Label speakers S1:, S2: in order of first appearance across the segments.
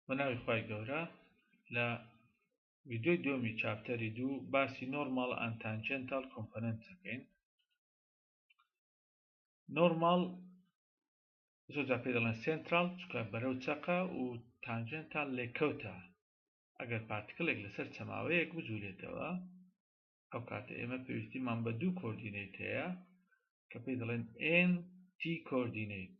S1: بە ناوی خی گەورە لە ویددیوی دومی چاپتەری دوو باسی نۆرمال ئەتانجنتال کۆمپەننت دەکەین نۆرمال زۆجا پێ دەڵێن سنترال چکە بەرەو چەقە و تانجنتال لێکەوتە ئەگەر پارتکلێک لەسەر چەماوەیەک بجوولێتەوە ئەو کاتە ئێمە پێویستیمان بە دوو کۆردینەیت هەیە کە پێی دەڵێن ئێن تی کۆردینەیت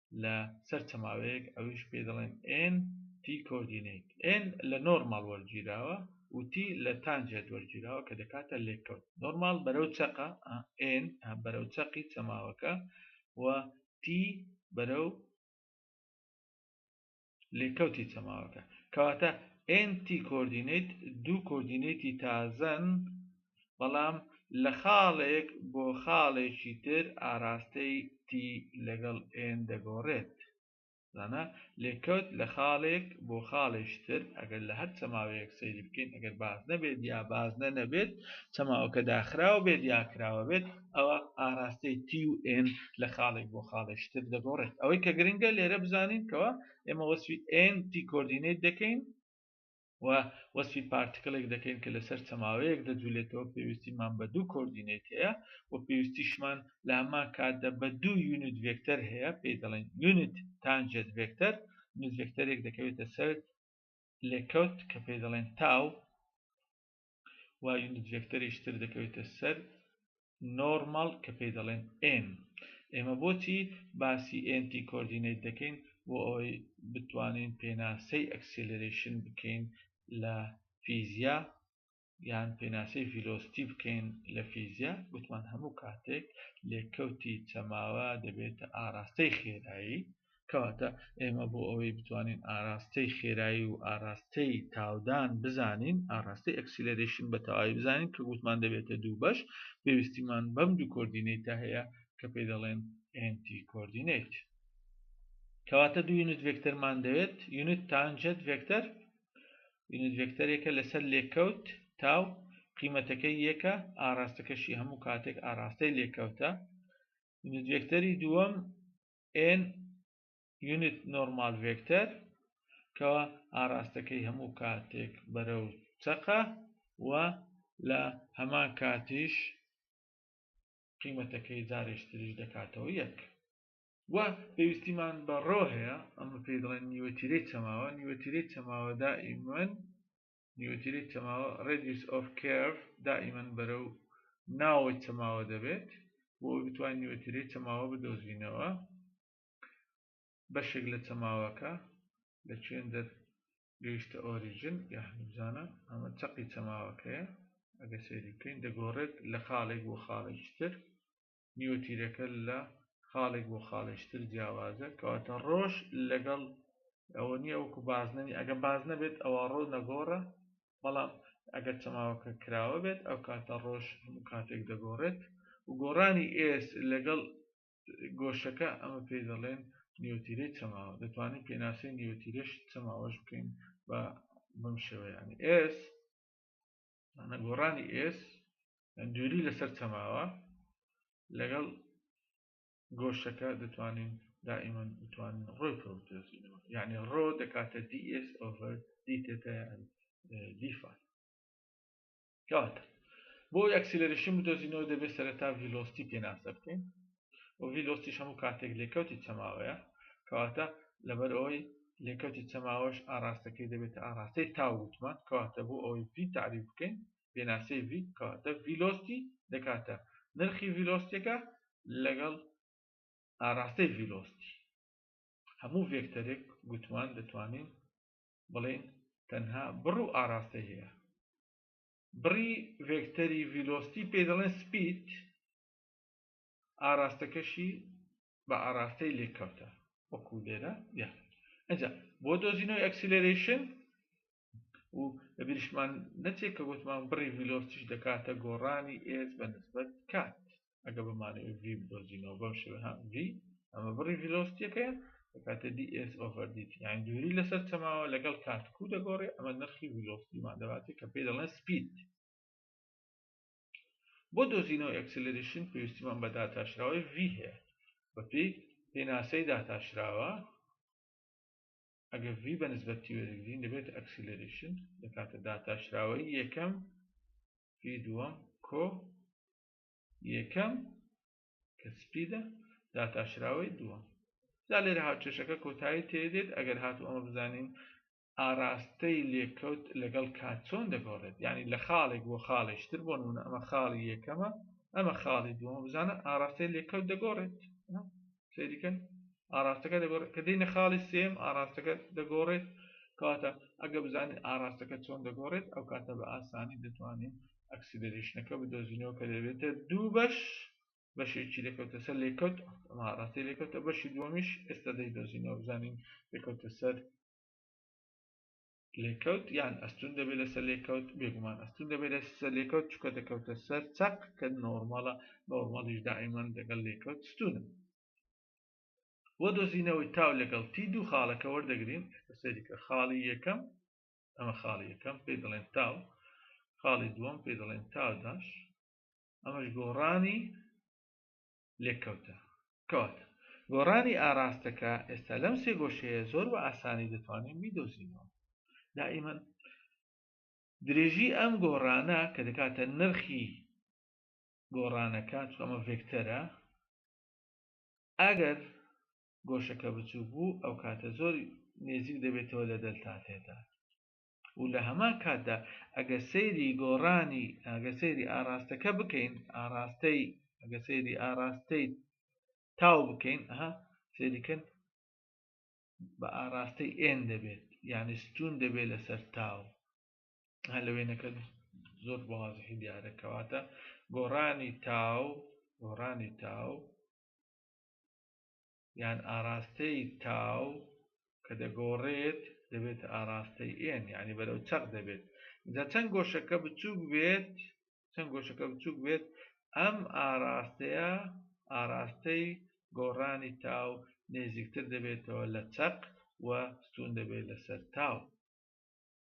S1: لە سەر چ ماوەیەک ئەویش پێی دەڵێن N T کۆردینەیت N لە نۆرماڵ وەرگیراوە و T لە تانجێت وەرگیراوە کە دەکاتە لێکەوت نۆرماڵ بەرەو چەقە N بەرەو چەقی چەماوەکە و T بەرەو لێکەوتی چەماوەکە کەواتە NT کۆردینەیت دوو کۆردینەیتی تازەن بەڵام لە خاڵێک بۆ خاڵێکی تر ئاراستەی T لەگەڵ N دەگۆڕێت زانە لێکەوت لە خاڵێک بۆ خاڵێشتر ئەگەر لە هەر چەماوەیەک سەیری بکەین ئەگەر باز نەبێت یا باز نەنەبێت چەماوەکە داخراوە بێت یاکراوە بێت ئەوا ئاراستەی تی و ئێن لە خاڵێک بۆ خاڵێکی تر دەگۆڕێت ئەوەی کە گرنگە لێرە بزانین کەوا ئێمە وەسفی ئێن تی کۆردینەیت دەکەین و وەسفی پارتکڵێک دەکەین کە لەسەر چەماوەیەک دەجولێتەوە پێویستیمان بە دوو کۆردینەیت هەیە و پێویستیشمان لە هەمان کاتدا بە دوو یونت ڤێکتەر هەیە پێی دەڵێن یونت تانجێت ڤێکتەر یونت ڤێکتەرێک دەکەوێتە سەر لێکەوت کە پێی دەڵێن تاو و یونت ڤێکتەریش تر دەکەوێتە سەر نۆرماڵ کە پێی دەڵێن ئێن ئێمە بۆچی باسی ئێنتی کۆردینەیت دەکەین بۆ ئەوەی بتوانین پێناسەی ئەکسیلرێشن بکەین لە فیزیا یان پێناسەی ڤیلۆستی بکەین لە فیزیا وتمان هەموو کاتێک لێکەوتی چەماوە دەبێتە ئاراستەی خێرایی کەواتە ئێمە بۆ ئەوەی بتوانین ئاراستەی خێرایی و ئاراستەی تاودان بزانین ئاراستەی ئەکسیلەرێشن بە تەواوی بزانین کە گوتمان دەبێتە دوو بەش پێویستیمان بەم دوو کۆردینەیتە هەیە کە پێی دەڵێن NT کۆردینەیت کەواتە دوو یونت ڤێکتەرمان دەوێت یونت تانجەت ڤێکتەر یونت ڤێکتەرێکە لەسەر لێکەوت تاو قیمەتەکەی یەکە ئاراستەکەشی هەموو کاتێک ئاراستەی لێکەوتە یونت ڤێکتەری دووەم ئێن یونت نۆرمال ڤێکتەر کە ئاراستەکەی هەموو کاتێک بەرەو چەقە و لە هەمان کاتیش قیمەتەکەی جارێش تریش دەکاتەوە یەک. و پێویستیمان بە ڕۆ هەیە ئەمە پێی دەڵێن نیوەتیرەی چەماوە نیوەتیرەی چەماوە دائیمەن نیوتری چەماوە ڕێدیوس ئۆف کێرف دائیمەن بەرە و ناوەی چەماوە دەبێت بۆ ئەوی بتوان نیوتری چەماوە بدۆزینەوە بەشێک لە چەماوەکە لە چێن دەر گەیشتە ئۆریژن یا هەمزانە ئەمە چەقی چەماوەکەیە ئەگە سەیری بکەین دەگۆڕێت لە خاڵێک بۆ خاڵێکتر نیوەتیرەکە لە خاڵێک بۆ خاڵێکی تر جیاوازە کەواتە ڕۆژ لەگەڵ ئەوە نییە وەکو بازنەنی ئەگە باز نەبێت ئەوە ڕۆ نەگۆڕە بەڵام ئەگەر چەماوەکە کراوە بێت ئەو کاتە ڕۆژ هەموو کاتێک دەگۆڕێت و گۆڕانی ئێس لەگەڵ گۆشەکە ئەمە پێ دەڵێن نیوتیرەی چەماوە دەتوانین پێناسەی نیوتیرەش چەماوەش بکەین بە بەم شێوەیانی ئێس مانە گۆڕانی ئێس دووری لەسەر چەماوە لەگەڵ گۆشەکە دەتوانین دائیمەن بتوانین ڕۆی پرۆتێزینەوە یعنی ڕۆ دەکاتە دی ئێس ئۆڤەر دی تێتە دیفان کاتە بۆ ئەکسیلەرشن بدۆزینەوە دەبێت سەرتا ڤیلۆستی پێناسە بکەین ئۆڤی دۆستیش هەموو کاتێک لێکەوتی چەماوەیە کەواتە لەبەر ئەوەی لێکەوتی چەماوەش ئاراستەکەی دەبێتە ئاراستەی تاو وتمان کەواتە بۆ ئەوەی ڤی تعریف بکەین پێناسەی ڤی کەواتە ڤیلۆستی دەکاتە نرخی ڤیلۆستیەکە لەگەڵ ئاراستەی ڤیلۆستی هەموو ڤێکتەرێک گوتمان دەتوانین بڵێن تەنها بڕ و ئاراستەی هەیە بڕی ڤێکتەری ڤیلۆستی پێ دەڵێن سپید ئاراستەکەشی بە ئاراستەی لێککەوتە وەکو لێرە یا ئەجا بۆ دۆزینەوەی ئەکسیلەرەیشن و لە بیرشمان نەچێت کە گوتمان بڕی ڤیلۆسیش دەکاتە گۆڕانی ئێز بە نسبەت کات ئەگە بمانە ڤی بدۆزینەوە بەم شێوە هەم ڤی ئەمە بڕی ڤیلۆسیەکەیە دەکاتە دی ئێس ئۆڤەر دیت یان دووری لەسەر چەماوە لەگەڵ کاتکو دەگۆڕێ ئەمە نرخی ڤیلۆسیمان دەباتێت کە پێی دەڵێن سپید بۆ دۆزینەوەی ئەکسلرەیشن پێویستیمان بە داتاشراوەی V هەیە بەپێی پێناسەی داتاشراوە ئەگەر V بە نسبەت T وەرگرین دەبێت ئەکسلرەیشن لە کاتە داتاشراوەی یەکەم V دووەم کۆ یەکەم کە سپیدە داتاشراوەی دووەم جا لێرە هاوچێشەکە کۆتایی تێدێت ئەگەر هاتو ئەمە بزانین ئاراستەی لێکەوت لەگەڵ کات چۆن دەگۆڕێت یعنی لە خاڵێک بۆ خاڵێکی تر بۆ نمونە ئەمە خاڵی یەکەمە ئەمە خاڵی دووەمە بزانە ئاراستەی لێکەوت دەگۆڕێت سەیریکەن ئاراستەکە دەگۆڕێت کە دێنە خاڵی سێم ئاراستەکە دەگۆڕێت کەواتە ئەگە بزانین ئاراستەکە چۆن دەگۆڕێت ئەو کاتە بە ئاسانی دەتوانین ئەکسیلریشنەکە بدۆزینەوە کە دەبێتە دوو بەش بەشێکی لێکەوتە سەر لێکەوت ئەما ڕاستی لێکەوتە بەشی دووەمیش ئێستا دەیدۆزینەوە بزانین لێکەوتە سەر لێکەوت یان ئەستون دەبێت لەسەر لێکەوت بێگومان ئەستون دەبێت لەسەر لێکەوت چکە دەکەوتە سەر چەق کە نۆرمەڵە نۆرمەڵیش دائیمان دەگەڵ لێکەوت ستونە وە دۆزینەوەی تاو لەگەڵ تی دوو خاڵەکە وەردەگرین سەریکە خاڵی یەکەم ئەمە خاڵی یەکەم پێی دەڵێن تاو خاڵی دووەم پێی دەڵێن تاوداش ئەمەش گۆڕانی لێکەوتە کەواتە گۆڕانی ئاراستەکە ئێستا لەم سێ گۆشەیە زۆر بە ئاسانی دەتوانین بیدۆزینەوە دائیمەن درێژی ئەم گۆڕانە کە دەکاتە نرخی گۆڕانەکە چۆمە ڤێکتەرە ئەگەر گۆشەکە بچوو بوو ئەو کاتە زۆر نێزیک دەبێتەوە لە دەلتاتێدا و لە هەمان کاتدا ئەگە سەیری گۆڕانی ئەگە سەیری ئاراستەکە بکەین ئاراستەی ئەگە سەیری ئاراستەی تاو بکەین ئەها سەیریکەن بە ئاراستەی ئێن دەبێت یعنی ستون دەبێت لەسەر تاو هە لە وێنەکە زۆر بەوازحی دیارەکەواتە گۆڕانی تاو گۆڕانی تاو یان ئاراستەی تاو کە دەگۆڕێت دەبێتە ئاراستەی N یانی بەرەو چەق دەبێت جا چەند گۆشەکە بچووک بێت چەند گۆشەکە بچووک بێت ئەم ئاراستەیە ئاراستەی گۆڕانی تاو نێزیکتر دەبێتەوە لە چەق و ستون دەبێت لەسەر تاو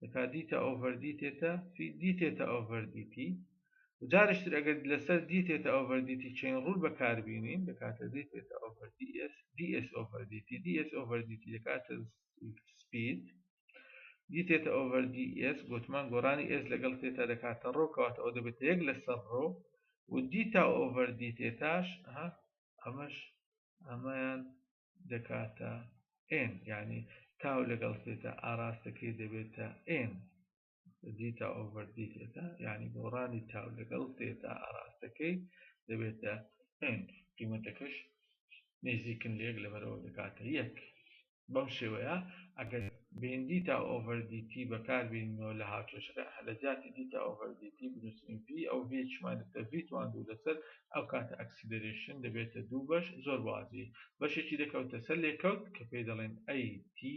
S1: دەکا دیتە ئۆڤەر دیتێتە فی دیتێتە ئۆڤەر دیتی جارشتر ئەگەر لەسەر دیتێتە ئۆڤەر دیتی چین ڕول بەکاربیینین دەکاتە دیتێتە ئۆڤەر دیس دیس ئۆڤەر دیتی دیس ئۆڤەر دیتی دەکاتە سپید دیتێتە ئۆڤەر دی ئێس گوتمان گۆرانی ئێس لەگەڵ تێتا دەکاتە ڕۆ کەواتە ئەو دەبێت یەک لەسەر ڕۆ و دیتا ئۆڤەر دیتێتاش ئەمەش ئەمەیان دەکاتە ئێن یانی تاو لەگەڵ سێتا ئاراستەکەی دەبێتە ئێن دیتا ئۆڤەر دی سێتا یانی دۆڕانی تاو لەگەڵ سێتا ئاراستەکەی دەبێتە ئێن قیمەتەکەش نێزیکن لێک لەبەرەوە دەکاتە یەک بەم شێوەیە ئەگەر بین دیتا ئۆڤەر دیتی بەکار بینەوە لە هاوچەشەکە هەلەجاتی دیتا ئۆڤەر دیتی بنووسین ڤی ئەو ڤی چمانێتە ڤی توان دوو لەسەر ئەو کاتە ئەکسیلەرێشن دەبێتە دوو بەش زۆر واضیح بەشێکی دەکەوتە سەر لێکەوت کە پێی دەڵێن ئەی تی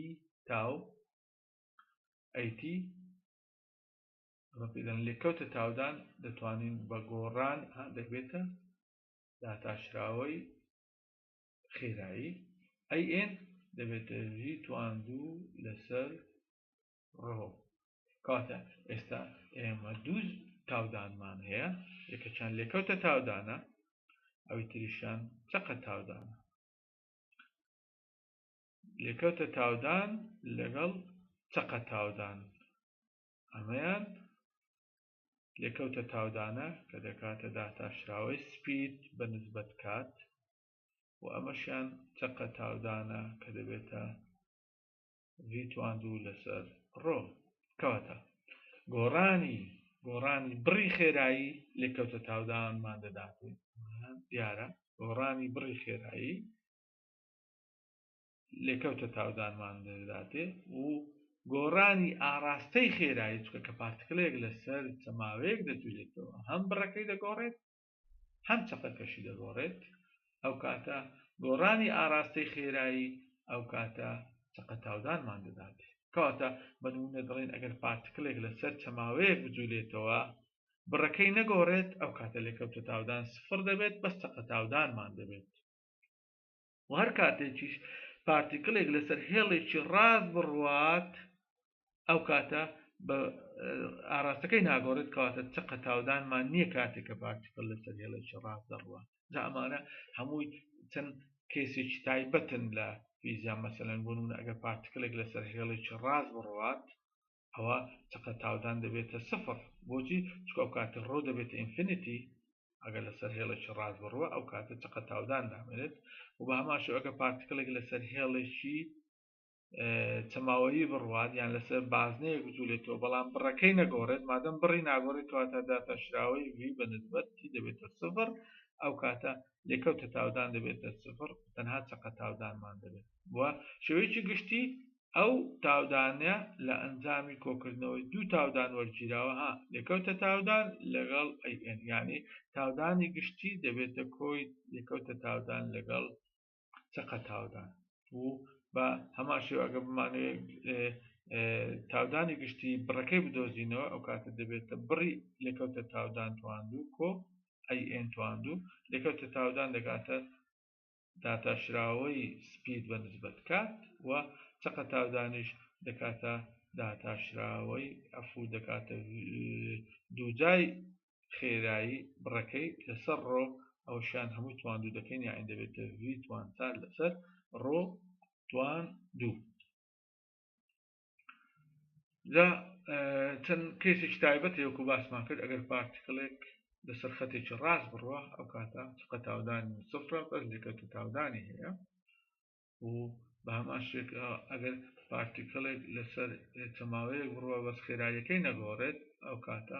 S1: تاو ئەی تی ئەمە پێی دەڵێن لێکەوتە تاودان دەتوانین بە گۆڕان هەندێک بێتە داتاشراوەی خێرایی ئەی ئێن دەبێتە ژی تواندوو لەسەر ڕۆ کاتە ئێستا ئێمە دوو تاودانمان هەیە یەکەچان لێکەوتە تاودانە ئەوی تریشان چقە تاودانە لێکەوتە تاودان لەگەڵ چقە تاودان ئەمەیان لێکەوتە تاودانە کە دەکاتە داتاشراوەی سپید بە نسبەت کات و ئەمەشیان چقە تاودانە کە دەبێتە ڤی تواندوو لەسەر ڕۆ کەواتە گۆڕانی گۆڕانی بڕی خێرایی لێکەوتە تاودانمان دەدات دیارە گۆڕانی بڕی خێرایی لێکەوتە تاودانمان دەداتێ و گۆڕانی ئاراستەی خێرایی چکە کە پارتکلێک لەسەر چەماوەیەک دەجوولێتەوە هەم بڕەکەی دەگۆڕێت هەم چەقەکەشی دەگۆڕێت، ئەوکاتە گۆڕانی ئاراستەی خێرایی ئەوکاتە چەقە تاودانمان دەدات. کەواتە بە نموونە دەڵێین ئەگەر پارتکلێک لەسەر چەماوەیەک بجولێتەوە بڕەکەی نەگۆڕێت ئەوکاتە لێکەوتە تاودان سفڕ دەبێت بەس چەقە تاودانمان دەبێت. و هەر کاتێکیش پارتیکلێک لەسەر هێڵێکی ڕاست بڕوات ئەو کاتە بە ئاراستەکەی ناگۆڕێت کەواتە چقە تاودانمان نییە کاتێک کە پارتیکل لەسەر هێڵێکی ڕاست دەڕوات جا ئەمانە هەمووی چەند کێسێکی تایبەتن لە فیزیا مەسەلەن بوون ئەگەر پارتیکلێک لەسەر هێڵێکی ڕاست بڕوات ئەوا چەقە تاودان دەبێتە سفر بۆچی چکە و کاتە ڕۆ دەبێتە ئینفینیتی ئەگەر لەسەر هێڵێکی ڕاست بڕوە ئەو کاتە چقە تاودان دامێنێت و بە هەماشو ئەگە پارتکلێک لەسەر هێڵێکی چەماوەیی بڕوات یان لەسەر بازنەیە گوتولێتەوە بەڵام بڕەکەی نەگۆڕێت مادەم بڕی ناگۆڕێت کەواتە داتاشراوەی وی بە نسبەتی دەبێتە سفر ئەو کاتە لێکەوتە تاودان دەبێتە سفر تەنها چقە تاودانمان دەبێت و شێوەیەکی گشتی ئەو تاودانە لە ئەنجامی کۆکردنەوەی دوو تاودان وەرگیراوە ها لێکەوتە تاودان لەگەڵ AN یانی تاودانی گشتی دەبێتە کۆی لێکەوتە تاودان لەگەڵ چەقە تاودان و بە هەمان شێوە ئەگە بمانوێت تاودانی گشتی بڕەکەی بدۆزینەوە ئەو کاتە دەبێتە بڕی لێکەوتە تاودان تواندو کۆ ئەی ئێن تواندو لێکەوتە تاودان دەگاتە داتاشراوەی سپید بە نسبەت کات و چەقە تاودانیش دەکاتە داتاشراوەی ئەفوو دەکاتە دووجای خێرایی بڕەکەی لەسەر ڕۆ ئەوشان هەمووی تواندوو دەکەین یاعین دەبێتە ڤی توانسال لەسەر ڕۆ توان دوو لە چەند کەیسێکی تایبەت هەیەکو باسمان کرد ئەگەر پارتیکلێک لەسەر خەتێکی ڕاست بڕوە ئەو کاتە چقە تاودانی سفرە بەس لەکەوتە تاودانی هەیە و بە هەمان شێک ئەگەر پارتیکلێک لەسەر چەماوەیەک بڕوە بەس خێرایەکەی نەگۆڕێت ئەو کاتە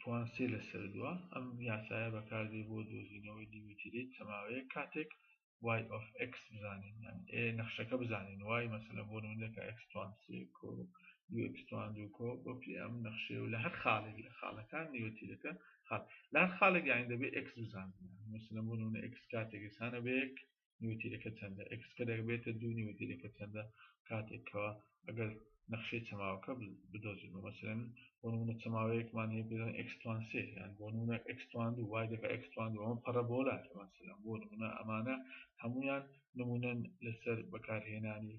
S1: پوان سێ لەسەر دووە ئەم یاسایە بەکاردێ بۆ دۆزینەوەی دیوتیرەی چەماوەیە کاتێک وای ئۆف ئەکس بزانین ئێ نەخشەکە بزانین وای مەسەلە بۆ نمونەکە ئەکسوان سێ کۆ دووەکسوان دوو کۆ بۆپی ئەم نەخشێ و لە هەر خاڵێک لە خاڵەکان دیوتیرەکە خاڵ لە هەر خاڵێک یانی دەبێ ئەکس بزانین مەسەلە بۆ نمونە ئەکس کاتێک ئسانە بەیەک نیوتیرەکە چەندە ئێکس کە دەبێتە دوو نیوتیرەکە چەندە کاتێک کەوا ئەگەر نەخشەی چەماوەکە بدۆزینەوە مەسەلەن بۆ نمونە چەماوەیەکمان هەیە پێدان ئێکس توان سێ یان بۆ نمونە ئێکس توان دوو وای دەکا ئێکس توان دوو ئەمە پەڕەبۆلاتە مەسەلەن بۆ نمونە ئەمانە هەموویان نمونەن لەسەر بەکارهێنانی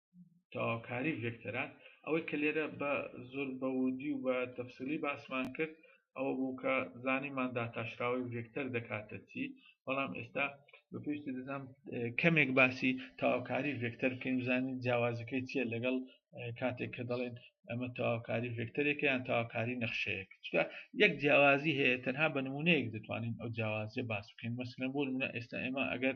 S1: تەواوکاری ڤێکتەرە، ئەوەی کە لێرە بە زۆر بە وردی و بە تەفسیلی باسمان کرد ئەوە بوو کە زانیمان داتاشراوەی ڤێکتەر دەکاتە چی، بەڵام ئێستا بە پێویستی دەزانم کەمێک باسی تەواوکاری ڤێکتەر بکەین بزانین جیاوازەکەی چییە لەگەڵ کاتێک کە دەڵێن ئەمە تەواوکاری ڤێکتەرێکە یان تەواوکاری نەخشەیەک چکە یەک جیاوازی هەیە تەنها بە نمونەیەک دەتوانین ئەو جیاوازیە باس بکەین مەسلەن بۆ نمونە ئێستا ئێمە ئەگەر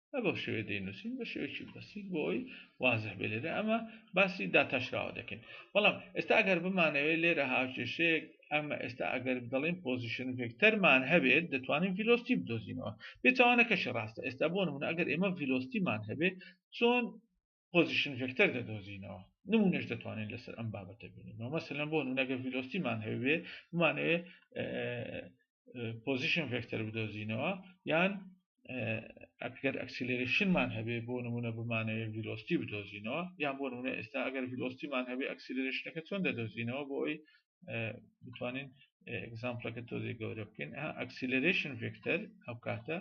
S1: بە بەو شێوەیە دەینووسین بە شێوەیەکی بەسیت بۆ ئەوی وازح بێ لێرە ئەمە باسی داتاشراوە دەکەین بەڵام ئێستا ئەگەر بمانەوێت لێرە هاوکێشەیەک ئەمە ئێستا ئەگەر بڵین پۆزیشن ڤێکتەرمان هەبێت دەتوانین ڤیلۆستی بدۆزینەوە پێچوانەکەشی ڕاستە ئێستا بۆ نمونە ئەگەر ئێمە ڤیلۆستیمان هەبێت چۆن پۆزیشن ڤێکتەر دەدۆزینەوە نمونەش دەتوانین لەسەر ئەم بابەتە بینین مەمەسەلەن بۆ نونەگە ڤیلۆستیمان هەوێ بمانەوێ پۆزیشن ڤێکتەر بدۆزینەوە یان ئەگەر ئەکسیلرشنمان هەبێ بۆ نمونە بمانەوێ ڤیلۆستی بدۆزینەوە یان بۆ نمونە ئێستا ئەگەر ڤیلۆستیمان هەبێ ئەکسیلرشنەکە چۆن دەدۆزینەوە بۆ ئەوی بتوانین ئەگزامپلەکە تۆزی گەورە بکەین ئەکسیلرشن ڤێکتەر ئەو کاتە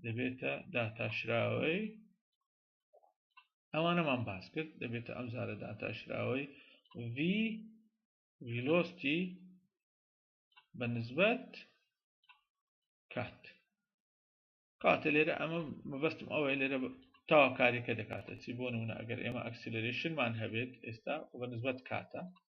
S1: دەبێتە داتاشراوەی ئەوانەمان باس کرد دەبێتە ئەم زارە داتاشراوەی V velocity بە نسبەت کات کاتە لێرە ئەمە مەبەستم ئەوەیە لێرە تاواکاریەکە دەکاتە چی بۆ نمونە ئەگەر ئێمە ئەکسلرێشنمان هەبێت ئێستا بە نسبەت کاتە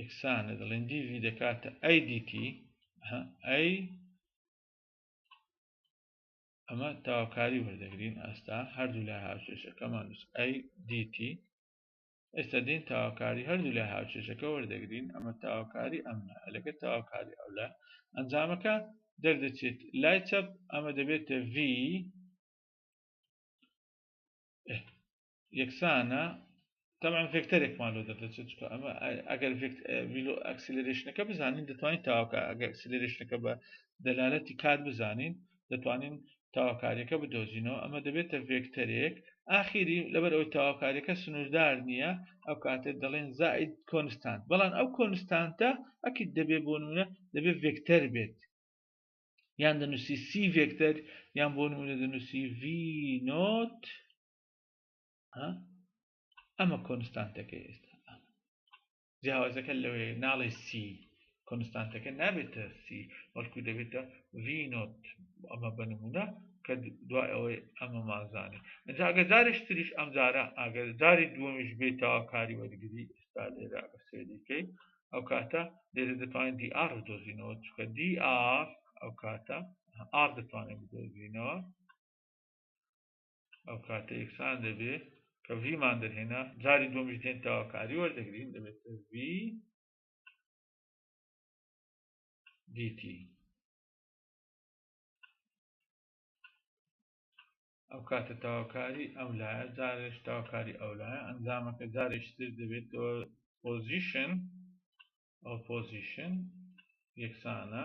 S1: یەکسانە دەڵێن دیڤی دەکاتە ئەی دیتی ئەی ئەمە تاواکاری وەردەگرین ئاستا هەردوو لای هاوچێشەکەمان نووس ئەی دیتی ئێستا دین تاواکاری هەردوو لای هاوچێشەکە وەردەگرین ئەمە تاواکاری ئەم لەگە تاواکاری ئەو لە ئەنجامەکە دەردەچێت لای چەپ ئەمە دەبێتە V یەکسانە تەبان ڤێکتەرێکمان لۆ دەردەچێت چکە ئەمە ئەگەر ویلۆ ئەکسلرێشنەکە بزانین دەتوانین تاواکە ئەگەر ئەکسلرێشنەکە بە دەلالەتی کات بزانین دەتوانین تاواکاریەکە بدۆزینەوە ئەمە دەبێتە ڤێکتەرێک ئاخیری لەبەر ئەوی تاواکاریەکە سنووردار نییە ئەو کاتێ دەڵێن زائید کۆنستانت بەڵام ئەو کۆنستانتە ئەکیت دەبێ بۆ نمونە دەبێ ڤێکتەر بێت یان دەنووسی سی ڤێکتەر یان بۆ نمونە دەنووسی ڤ نۆت ئەمە کۆنستانتەکەی ئێستا جیاوازەکە لەوەیە ناڵێ سی کۆنستانتەکە نابێتە سی بەڵکو دەبێتە ڤینۆت ئەمە بەنمونە کە دوای ئەوەی ئەمە مازانێ ئەجا ئەگە جارێک تریش ئەم جارە ئاگەر جاری دووەمیش بێتەوە کاری وەرگری ئێستا لێرە بە سێریکەی ئەو کاتە لێرە دەتوانین دی ئار دۆزینەوە چکە دی ئار ئەو کاتە ئار دەتوانێت بدۆزینەوە ئەو کاتە ئێکسان دەبێ کە ڤیمان دەرهێنا جاری دومیش دێن تاواکاری وەردەگرین دەبێت ڤی دیتی ئەو کاتە تاواکاری ئەم لایە جارێش تاواکاری ئەو لایە ئەنجامەکە جارێشتر دەبێتەوە پۆزیشن ئەو پۆزیشن یەکسانە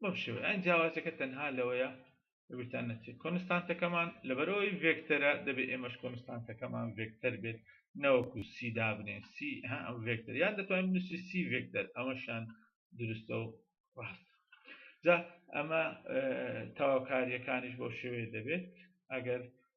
S1: بەم شێوەیە ئەی جیاوازیەکە تەنها لەوەیە بتان نەچێت کۆنستانتەکەمان لەبەرەوەی ڤێکتەرە دەبێت ئێمەش کۆنستانتەکەمان ڤێکتەر بێت نەوەکو سی دابنێن سی ها ئەم ڤێکتەر یان دەتوانین نووسی سی ڤێکتەر ئەمەشان دروستە و ڕاست جا ئەمە تەواوکاریەکانیش بۆ شێوەیە دەبێت ئەگەر